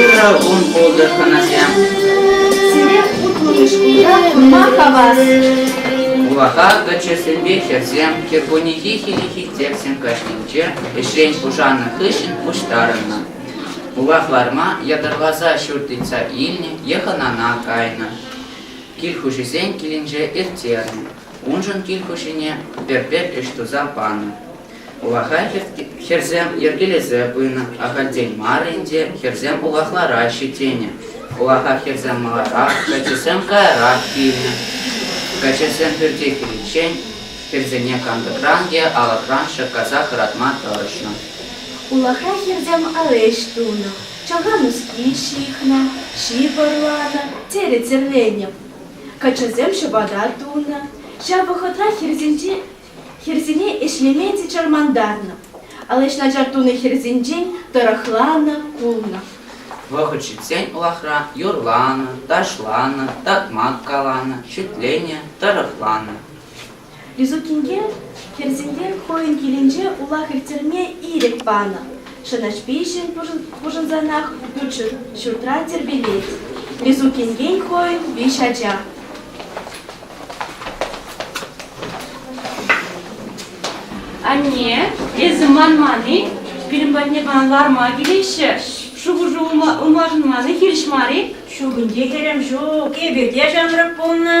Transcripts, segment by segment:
Ырӑ кун пултӑр хӑнасем. Сире утлӑ шкулта курма хавас. Вулаха каччӑсемпе хӗрсем кӗркуннехи хӗллехи текстсем каҫнинче ӗҫрен пушаннӑ хыҫҫӑн пуҫтарӑннӑ. Пулах ларма ятарласа ҫурт ыйтса илнӗ е хӑнана кайнӑ. Кил хуҫисен килӗнче ирттернӗ. Уншӑн кил хуҫине пӗр-пӗр ӗҫ туса панӑ. Улаха хӗрсем йӗркелесе пынӑ, ахальтен мар ӗнтӗ хӗрсем улахлараҫҫӗ тенӗ. Улаха хӗрсем маларах каччӑсем каярах килнӗ. Каччӑсем пӳрте киличчен Хӗрсене кантӑкран те алӑкран ҫӑккаса хӑратма тӑрӑшнӑ. Улахра хӗрсем ал ӗҫ тунӑ, чӑха нуски ҫыхнӑ, ҫип ӑрланӑ, терӗ Тӗрленев. Каччӑсем ҫӑпата тунӑ. Ҫав вӑхӑтра хӗрсенче хӗрсене ӗҫлеме те чӑрмантарнӑ. Ал ӗҫ начар тунӑ хӗрсенчен тӑрӑхланӑ пулнӑ. Вӑхӑт ҫитсен улахра юрланӑ, ташланӑ, такмак каланӑ, шӳтленӗ, тӑрӑхланӑ. Юсукинке хӗрсемпе хӑйӗн килӗнче улах ирттерме ирӗк панӑ. Шӑнӑҫ пиҫӗн пушӑнсанах ют ҫуртра тирпейлет. Юсукинкен хӑйӗн виҫ ача. Анне, эсӗ манман-и? Пирӗн патне пана ларма килеҫҫӗ. Шухӑшу ылмашӑнманни хирӗҫ мар-и? Ҫук ӗнтӗ, хӗрӗм, ҫук. Эпир те ҫамрӑк пулнӑ.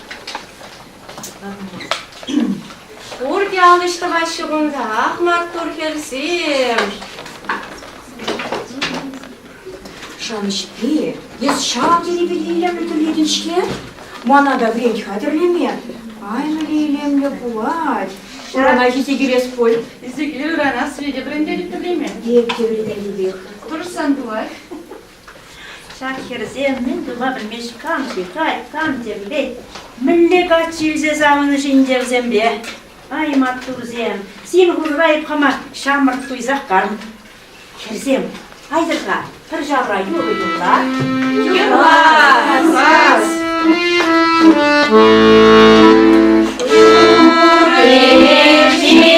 Пурте ал ӗҫ тӑваҫҫӗ кунтах, маттур хӗрсем. Шамҫке, эс ҫав тери илемлӗ тӗллетӗн-ҫке? Мана та вӗрент хатӗрлеме. Кайнӑ илемлӗ пулать. Урана ҫити кӳрес пуль. Эсӗ киле ырана свете вӗрентетӗп тӗрлеме. Эп те вӗрентетӗпех. Тӑрӑшсан пулать. Ҫак хӗрсем мӗн тума пӗлмест кам-ши, кай, кам темле, мӗнле каччи илсе савӑнӑҫ инкерсемпе. Ай, маттурсем, син хушӑра ӳт-хӑма ҫамрӑк туйсах кам. Хӗрсем, айтӑр-ха, пӗр ҫавра юрӑ юрла. Юрла! Сас! Ҫурхи ҫил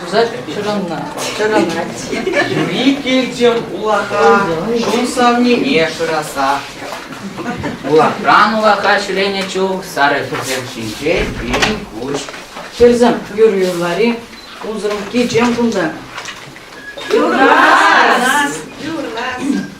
Туса чӑрӑннӑ. Чӑрӑнать. Викельтем улаха чун савнине шыраса. Улахран улаха ҫӗленӗ чух сарӑ хӗсем ҫинче пирӗн куҫ. Хӗрсем, юр юрлари унсӑрӑн кичем кунта. Юрлас! Юрлас!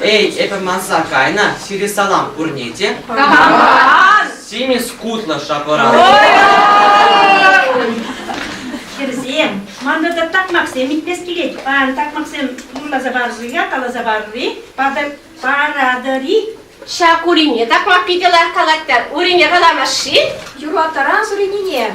Эй, эпӗ манса кайнӑ сире салам пурне те. Симӗс кутлӑ шапӑра. Хӗрсем, мантӑрта такмаксем итмес килет. Паян такмаксем юрласа парӑр-и, каласа парӑр-и? Паратӑр-и? Ҫак урине такмак питӗ лайӑх калаттӑр. Урине каламаш-ши? Юрлатаран суринине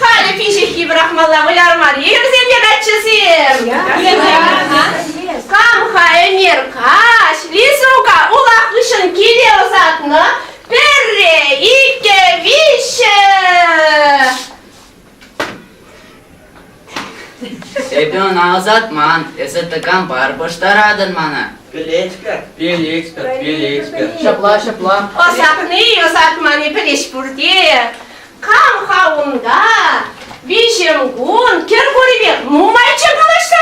Халӗ пиҫиххи пӑрахмалла вылярман йӗрсем те каччӑсем. Кам-ха Эмир каҫ Лизука улах хыҫҫӑн киле ӑсатнӑ? Пӗрре, иккӗ, виҫҫӗ. Эпӗ ӑна ӑсатман, эсӗ тӑкампар пӑштаратӑн мана. Пӗлетпӗр. Пилетпӗр, пилетпӗр. Ҫапла, ҫапла. Ӑсатни, ӑсатмани пӗлӗҫ пурте. Кам-ха унта? Виҫӗмкун Кӗркурипе нумайчче калаҫса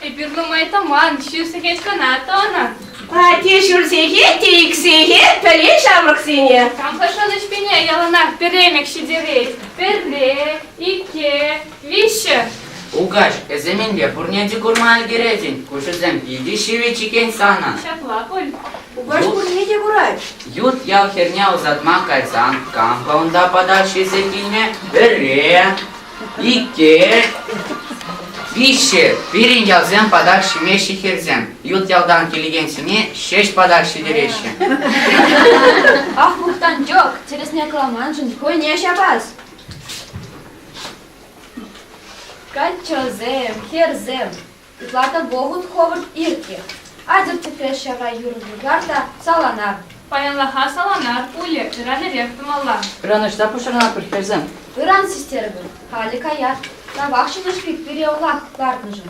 Эпир нумай тӑман, ҫив сехет кӑна тӑнӑ. Пате ҫӳл сехет те ик сехет пӗле ҫамрӑксене. Кам-ха шӑнӑҫ пине яланах пӗремӗк ҫитерет? Пӗрре, икке, Виҫҫӗ. Укаҫ, эсӗ мӗнпе пурне те курма ӗлкӗретӗн? Куҫусем питӗ ҫивӗч-икен санӑн. Ҫапла пуль. Укаҫ пурне те курать. Ют ял хӗрне ӑсатма кайсан кампа унта патак ҫисе килнӗ? Пӗрре, икке, виҫҫӗ. Пирӗн ялсем патак ҫимеҫҫӗ хӗрсем. Ют ялтан килекенсене ҫеҫ патак ҫитереҫҫӗ. Ах, Мухтанчӑк, тӗрӗсне каламаншӑн хӑйне ҫапас. Каччӑсем, хӗрсем, ытла та вӑхӑт хӑвӑрт иртнӗ. Атӑр-тӗпре ҫавра юр-вар та саланар. Паянлӑха саланар пулӗ, ыран-эрех тумалла. Ыранӑҫса пуҫӑрӑнатпӑр, хӗрсем. Ыран систерӗпӗр, халӗ каят. Тавах ҫӗнӗ шпик пире ӑлах лартнӑшӑн.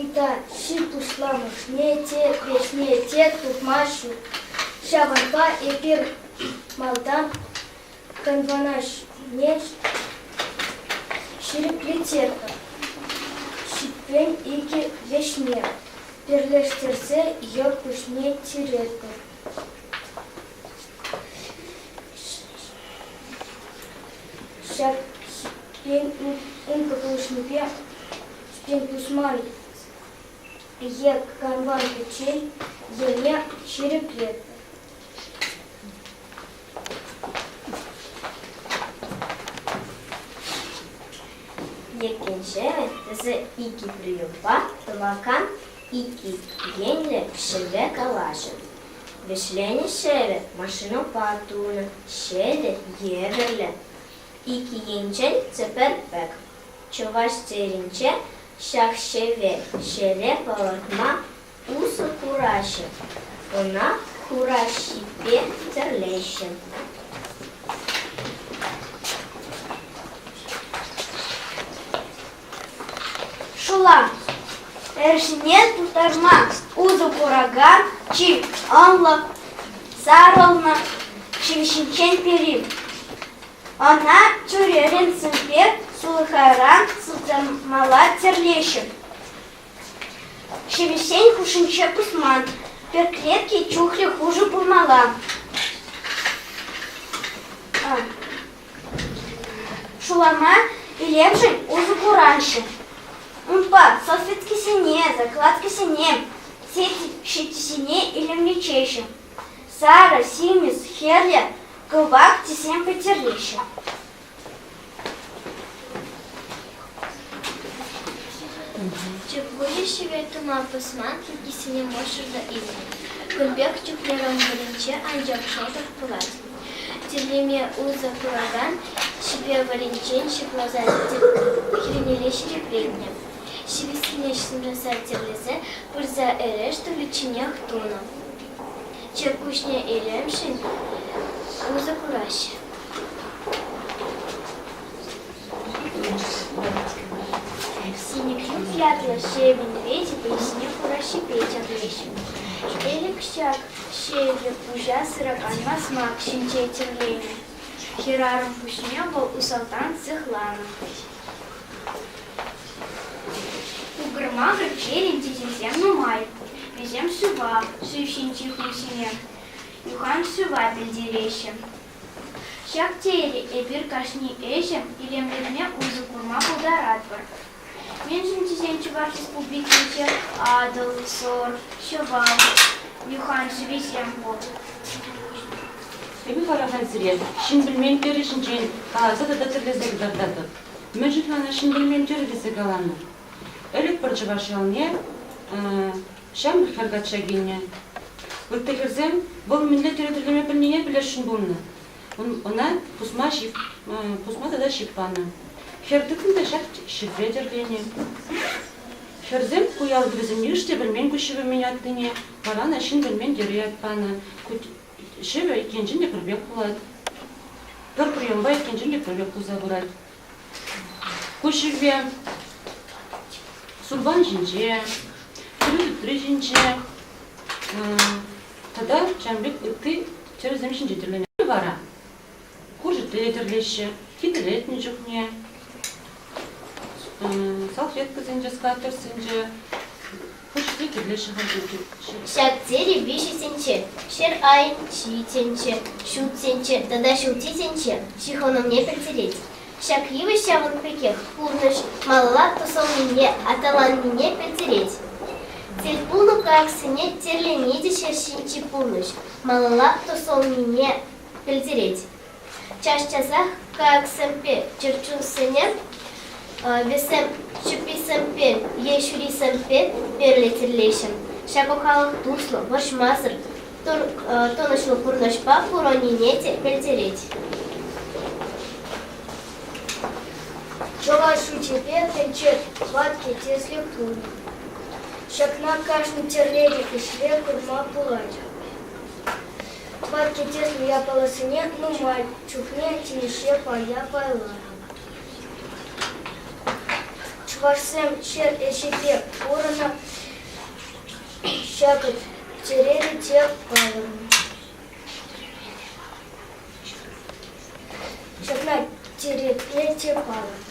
Ыйтса ҫын пуҫламӑшне те, веҫне те тухма ҫук. Ҫавӑнпа эпир малтан конвонаҫне ҫирӗп литерка, ҫиппен икӗ леҫме, перлештерсе йӑл куҫне тиретпӗр. Ҫак ҫиппен ункӑ пулӑшнипе Пин пусман е канван пӗччен ене ҫирӗплетпӗр. Еккенче тӗсӗ икӗ приемпа тӑвакан икӗ енлӗ ҫӗле калаҫӑн. Вӗҫленӗ ҫӗрӗ машинӑпа тунӑ ҫӗлӗ евӗрлӗ. Икӗ енчен тӗпер пек Чӑваш Теринче ҫак хӗвел ҫӗле пӑрӑхма усӑ кураҫҫӗ, ӑна хураҫҫипе тӗрлеҫҫӗ. Шула эршне тултарма усӑ куракан чи ӑнлӑ сарӑлнӑ ҫил ҫинчен пӗри. Ӑна тӳререн сӗмпе сулхайран сутӑнмалла тӗрлеҫҫӗ. Ҫӗвӗҫсен хушшинче пусман, пӗр клетке чухлӗ хушӑ пулмалла. Шулама илемшӗн усӑ кураҫҫӗ. Унпа салфеткисене, закладкӑсене, сет ҫитисене илемлетеҫҫӗ. сарӑ, симӗс, хӗрлӗ, кӑвак тӗсем пӗтереҫҫӗ. Чепури ҫӗвет тума пӑсман кӗркисене мӑшӑр илнӗ. Кун пек чухне вӑрӑнче анчах шӑтӑк пулать. Тӗллеме усӑ куракан ҫипе вӑрӗнчен ҫыхласа хирнелле ҫирӗпленнӗ. ҫивиссине ҫӗнтерсе тӗрлесе пырса эрешт-уличченех тунӑ. Чиркӳҫне илемшӗн усӑ кураҫҫӗ. Синиклюк ятлӑ ҫейӗн ретӗпе ҫине хураҫҫипе чакаҫҫӗ. Элӗк ҫак ҫейӗллӗ пуҫа сыракан масмак ҫинче тӗрленӗ. Хӗрарӑм пуҫне вӑл усалтан сыхланӑ. Укрма хресченӗн тетесем нумай. Вӗсем шыва шыв ҫинчи хуҫине юхан шыва пӗлтереҫҫӗ. Ҫак тери эпир кашни ӗҫӗм илемлетме усӑ курма пултаратпӑр. Мӗншӗн тесен Чӑваш Республикинче Атӑл, Сор, Ҫӑвар, юхан шывӗсем пур. Эпӗ вара халь сире ҫын пӗлмен тӗрӗ ҫинчен каласа тата тӗрлесе кӑтартатӑп. Мӗншӗн мана ҫын пӗлмен тӗрӗ тесе каланӑ? Ӗлӗк пӗр чӑваш ялне ҫамрӑк хӗр качча килнӗ. Ытти хӗрсем вӑл мӗнле тӗрӗ тӗрлеме пӗлнине пӗлесшӗн пулнӑ. Ӑна пусма ҫип, пусма тата ҫип панӑ. Хӗр тытнӑ та ҫак ҫӗрпе тӗрленӗ. Хӗрсем ку ялти вӗсем йыш те пӗлмен куҫҫуль мӗн атнине, вара ӑна ҫын пӗлмен тӗрӗ ят панӑ. Ҫӗвӗ иккенчен те пӗр пек пулать. Пӗр приемпа иккенчен те пӗр пек пулса пырать. Ку ҫӗве сурпан ҫинче, тырӑ тытри ҫинче тата ҫавӑн пек ытти чӗресем ҫинче тӗрленӗ вара. куршӗпе тӗрлеҫҫӗ. Хитӗлетнӗ чухне салфеткӑсенче, скатерсенче хӑшне кирлеҫҫӗ Ҫак тери виҫӗсенче ҫӗр айӗн ҫийӗсенче, ҫутсенче тата ҫутисенче ҫыхӑнӑвне пӗлтерет. Ҫак йывӑҫ ҫавӑн пекех пурнӑҫ малалла тӑсӑлнине аталаннине пӗлтерет. Тӗл пулнӑ кайӑксене тӗрлени те ҫӗр ҫинчи пурнӑҫ малалла тӑсӑлнине пӗлтерет. Час-часах КАКсемпе чӗрчунсене, вӗсем ҫупписемпе е ҫурисемпе перле тӗрлеҫҫӗ. Ҫакӑ халӑх туслӑ, вӑрҫмасӑр, тӑнӑҫлӑ пурнӑҫпа пурӑннине те пӗлтерет. Чӑваш шучӗпе тӗнче ватти тӗслӗ пулнӑ. Ҫакна кашни тӗрлӗрех ӗҫре курма пулать. Паркетеслӗ япаласене нумай чухне тивӗҫе пая-пайларӑм. Чӑвашсем ҫӗр ӗҫӗпе пурӑннӑ, ҫакӑ тереле те палӑрнӑ. Ҫакна тирепе те палӑртнӑ.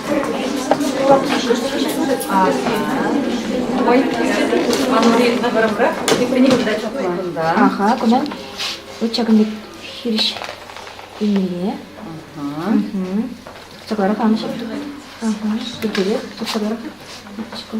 Аха, куна ҫакӑн пек хирӗҫ илмелле. Сӑкларах анчӗ. Ага, текеле, сӑкларах. Шкӑл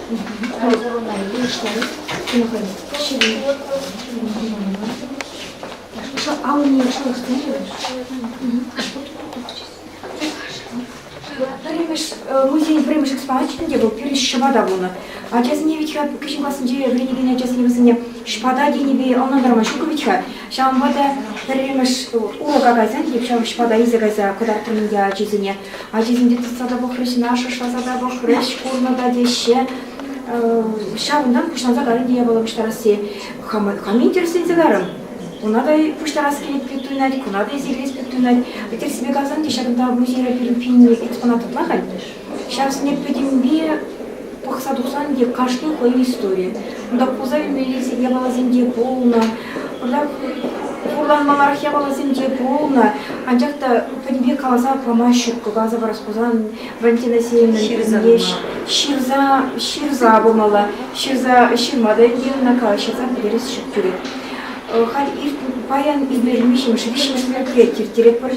Амӑнне пӗрремӗш музейӗн пӗрремӗш экспоначӗ те вӑл пирӗн ҫӑпата пулнӑ. Ачасене вӗт-ха кӗҫӗн классенче вӗренекен ачасене вӗсене ҫӑпата тенипе ӑнлантарма ҫук вӗт-ха. Ҫавӑнпа та пӗрремӗш урок акасем тип ҫав шпада илсе кайса кӑтартрӑм ӗнтӗ ачисене. Ачисенче тытса та пӑхрӗҫ, шашласа та пӑхрӗҫ, курнӑ та теҫҫе. Ҫавӑнтан пуҫланса карӗ те япала пуҫтарасси. Хам интересленсе карӑм. Уна та пуҫтарас килет пек туйӑнать, куна та илсе килес пек туйӑнать. Тӗрсипе каласан те ҫакӑнта музейра пирӗн пинне экспонат ытла халь. Ҫав снеппӗтӗмпе пӑхса тухсан те кашни хӑйӗн истори. Унта пулса ӳмелесе япаласенче пулнӑ, унта хурланмаллах япаласенче пулнӑ, анчах та пӗтӗмпе каласа памасть ҫуккӑ. Каласа парас пулсан Валентина Сеевна ҫырса ҫырса пулмалла. Ҫырса ҫырма та ӗнтӗ ӑна ҫырса пӗтерес ҫук килет. Халь иртнӗ паян иртмешӗн виҫӗмӗш мероприяти ирттеретпӗр.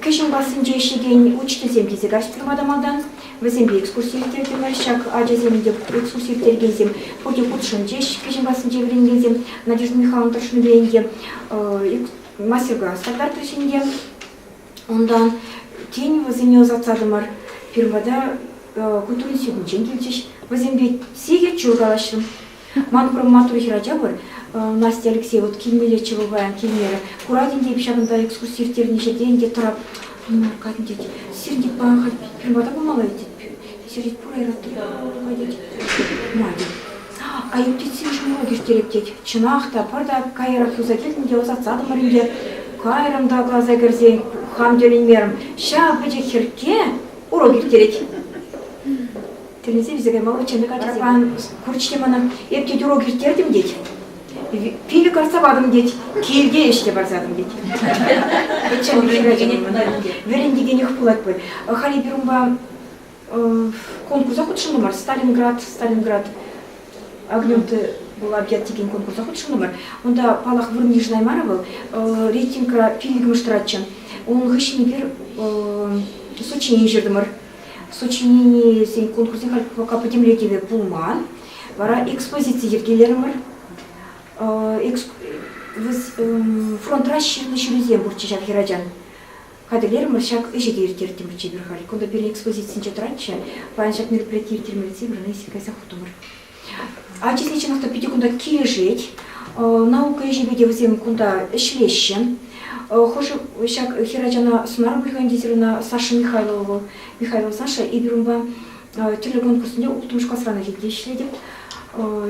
Кӗҫӗн классенче ӗҫлекен учительсем килсе каҫҫӗ турма та малтан. Вӗсемпе экскурси ирттертӗмӗр. Ҫак ачасем те экскурси ирттерекенсем пурте хутшӑнчӗҫ. Кӗҫӗн классенче вӗренекенсем Надежда Михайловна тӑрӑшнипе ӗнтӗ мастер-класс та кӑтартрӗҫ ӗнтӗ. Унтан тен вӗсене ӑсатсатӑмӑр. Пирӗн пата культура институтӗнчен килчӗҫ. Вӗсемпе сехет ҫул калаҫрӑм. Ман курӑма тухӗ ача пуль, Настя Алексей, вот килмелле чего паян килмерӗ. Куратӑн те, ҫакӑнта экскурси ирттернӗ ҫӗрте ӗнтӗ тӑрап кайнӑ тет. Сирӗн тет паян хать пирвата пымалла тет. Сир тет пур айратти. Кай тет. Надя. Айӑптетсен ҫумрок ирттереп тет. Чӑнах та, пӗр та каярах юлса килтӗм те ӑсатсатӑмӑр ӗнтӗ. Кайрӑм та класа кӗрсен хам тӗлӗнмерӗм. Ҫав пӗчӗк хӗркке урок ирттерет. Тӳлесе висе каймалла чӗмӗк ачасем. Курчӗ мана, эп тет урок ирттертӗм тет. Пилӗк артса патӑм тет, килте ӗҫке парсатӑм тет. Пӗччен вӗрентекенех пулать пуль. Халӗ пир унпа конкурса хутшӑннӑ мар, Сталинград, Сталинград Агненты была объят текен конкурса хутшӑннӑ мар. Унта паллах вырӑн йышӑнаймарӗ вӑл, рейтингра пиллӗкмӗш тӑратчӗ. Унӑн хыҫҫӑн эпир Сочине ҫыртӑмӑр. сочиненисен конкурсӗ халь пока пӗтӗмлетӗве пулман. Вара экспозици йӗркелерӗмӗр. Фронт расчетлӑ ҫулӗсем пурччӗ ҫак хӗрачан. Хатӗрлерӗмӗр, ҫак ӗҫе те ирттертӗмӗр эпир халь. Кунта пирӗн экспозицинче тӑратчӗ. Паян ҫак мероприяти ирттермелле тесе Веронисия кайса хутӑмӑр. Ачасен чӑнах та питӗ кунта килӗшет. Наука ӗҫӗпе те вӗсем кунта ӗҫлеҫҫӗ. Хӑшӗ ҫак хӗрачана сӑнар выльӑх кондитерuna Саша Михайлова вӑл, Михайлова Саша, эпир унпа тӗрлӗ конкурссенче улттӑмӗш класран ӗлкӗрте ӗҫлетӗп.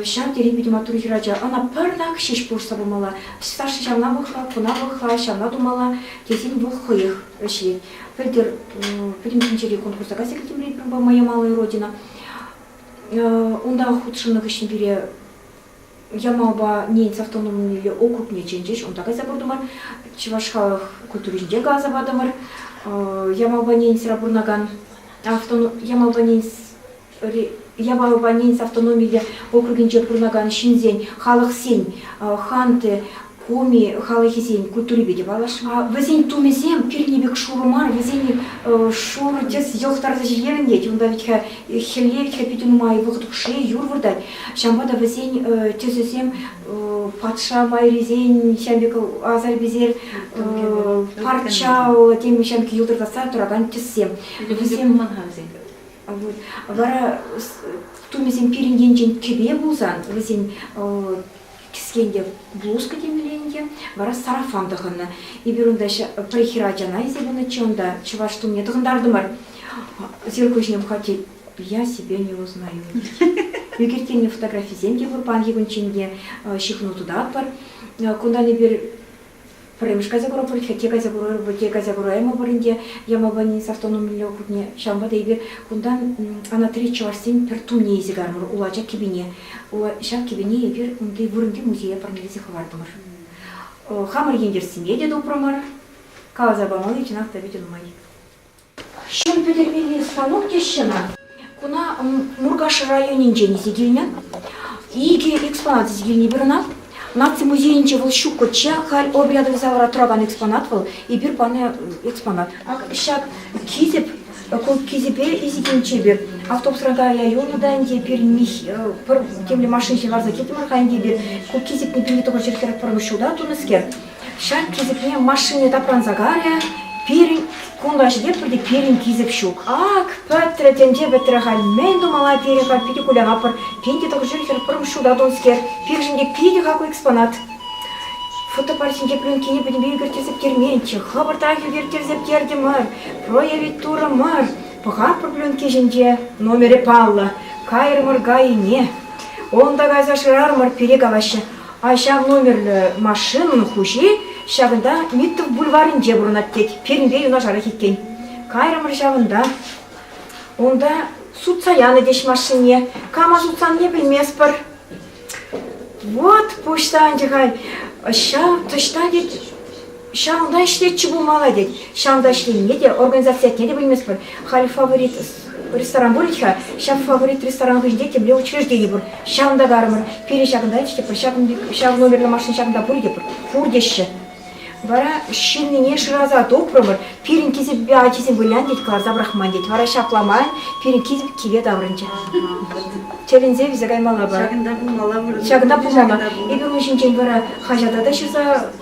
Ҫав тери питӗ маттур хӗрача. Ӑна пӗрнак ҫеҫ пулӑшса памалла. Саша ҫавна пӑхла, куна пӑхла, ҫавна тумалла тесен вӑл хӑех ӗҫлет. Пӗлтӗр пӗтӗм тӗнчери конкурса кайса килтӗмӗр эпир унпа «Моя малая родина». Унта хутшӑннӑ хыҫҫӑн пире Ямалпа Ненец автономиллӗ округне чӗнчӗҫ. Унта кайса куртӑмӑр, чӑваш халӑх культуринчен каласа патӑмӑр. Ямалпа Ненецра пурӑнакан Ямалпа Ненец Ямалпа Ненец автономиллӗ округӗнче пурӑнакан ҫынсен, халӑхсен, хан те, Куми халӑхӗсен культурипе те паллашма. Вӗсен тумӗсем пирӗн пек шурӑ мар, вӗсен шурӑ тӗс йӑлтӑртса ҫӗлерӗнет. Унта витхӗ хӗлле витхӗ питӗ нумай вӑхӑт хушши юр выртать. Ҫавӑнпа та вӗсен тӗсӗсем патша майрисен ҫам пек асар-писер парчаллӑ тем ҫам пек йӑлтӑртатса туракан тӗссем. Вӗсем вара тумӗсем пирӗн енчен кӗпе пулсан вӗсен Кӗскен те блузка темелле ӗнтӗ, вара сарафан тӑхӑннӑ. Эпир унта пӗр хӗр ачана илсе пынӑччӗ, унта чӑваш тумне тӑхӑнтартӑмӑр. Зеркал ҫине пӑхать, я себе не узнаю. Ӳкерттернӗ фотографисем те пур паянхи кунччен те, ҫыхӑну тытатпӑр. Кунтан эпир Пӗрремӗш кайса курӑпӑр, хӗтте кайса курӑпӑр, пӳрте кайса кураймӑпӑр ӗнтӗ Ямалпани састӑнумилле хутне. Ҫавӑнпа та эпир кунтан ана три чӑвашсен пӗр тумне илсе кайрӑмӑр, улача кӗпине. Ҫав кӗпене эпир унти вырӑнти музее парнелесе хӑвартӑмӑр. Хамӑр ентешсемпе те тупрӑмӑр. Каласа памалли чӑнах та питӗ нумай. Ҫул пӗтермелли станок теҫҫӗ ӑна. Куна Муркаш районӗнчен илсе килнӗ. Икӗ экспонат илсе килни вырӑнах. Наци музейӗнче вӑл ҫуккӑчча, халь обряд рейсавӑра туракан экспонат вӑл. Эпир панӑ экспонат. Ак ҫак хисеп, ку хисепе резиденчӗ эпир автобусран каялла юлнӑ та ӗнтӗ эпир пӗр темле машина ҫывхарса килтӗмӗр-ха ӗнтӗ эпир. Ку хисеп путӗнче тӑхӑр ҫӗрсерех пӗрмӗш ҫулта тунӑскер. Ҫак кисӗкне машини тапранса карӗ. Пирӗн кун каҫипе пурте пирӗн кисӗк ҫук. Ак, пӗтрӗ тӗнче пӗтрӗ халь. Мӗн тумалла пирӗн халь питӗ кулянапӑр. Пин те тӑхӑр ҫул хӗр пӗрм ҫутат унскер. Пирӗн те питӗ хаклӑ экспонат. Фотопарчӗнче пленкине пӗтӗмпе ӳкерттерсеткерменччӗ. Хӑвӑртрах ӳкерттерсеткертӗмӗр. Проявить турӑмӑр. Пӑхатпӑр пленки ҫинче. Номерӗ паллӑ. Кайрӑмӑр кайине. Унта кайса шырарӑмӑр пире калаҫҫӗ. ҫав номерлӗ машинӑн хуҫи ҫакӑнта Миттов бульварӗнче пурӑнать тет. Пирӗнпе юнашарах иккен. Кайрӑмӑр ҫавӑнта. Унта сутса янӑ теҫ машине. Кама сутсанне пӗлместпӗр. Вот пуҫта ӗнтӗ хай. Ҫав тӑҫта тет Ҫавӑнта ӗҫлетчӗ пулмалла тет. Ҫавӑнта ӗҫленине те, организаци ятне те пӗлмест пуль. Халь фаворит ресторан пулӗ-ха, ҫав фаворит ресторан хыҫӗнче темле учреждени пур. Ҫавӑнта карӑмӑр. Пирӗн ҫакӑнта те пур, ҫавӑн, ҫав номерлӗ машина ҫакӑнта пур те пур. Пур теҫҫӗ. Вара ҫыннине шыраса тупрӑмӑр, пирӗн кисеппе ачисем вылянӑ тет, кӑларса пӑрахман тет. Вара ҫапла ман пирӗн кисеп киле таврӑнчӗ. Тӗлӗнсе вилсе каймалла пар. Ҫакӑнта пулмалла. Ҫакӑнта пулмалла. Эпир ун ҫинчен вара хаҫата та ҫырса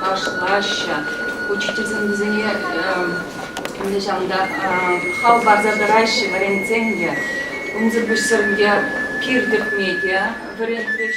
ташлаҫҫӗ. Учительсем вӗсене нихҫан та хал парса тӑраҫҫӗ вӗрентсен те. Унсӑр пуҫсӑрӑнке кир тӗкме те вӗрентрӗҫ.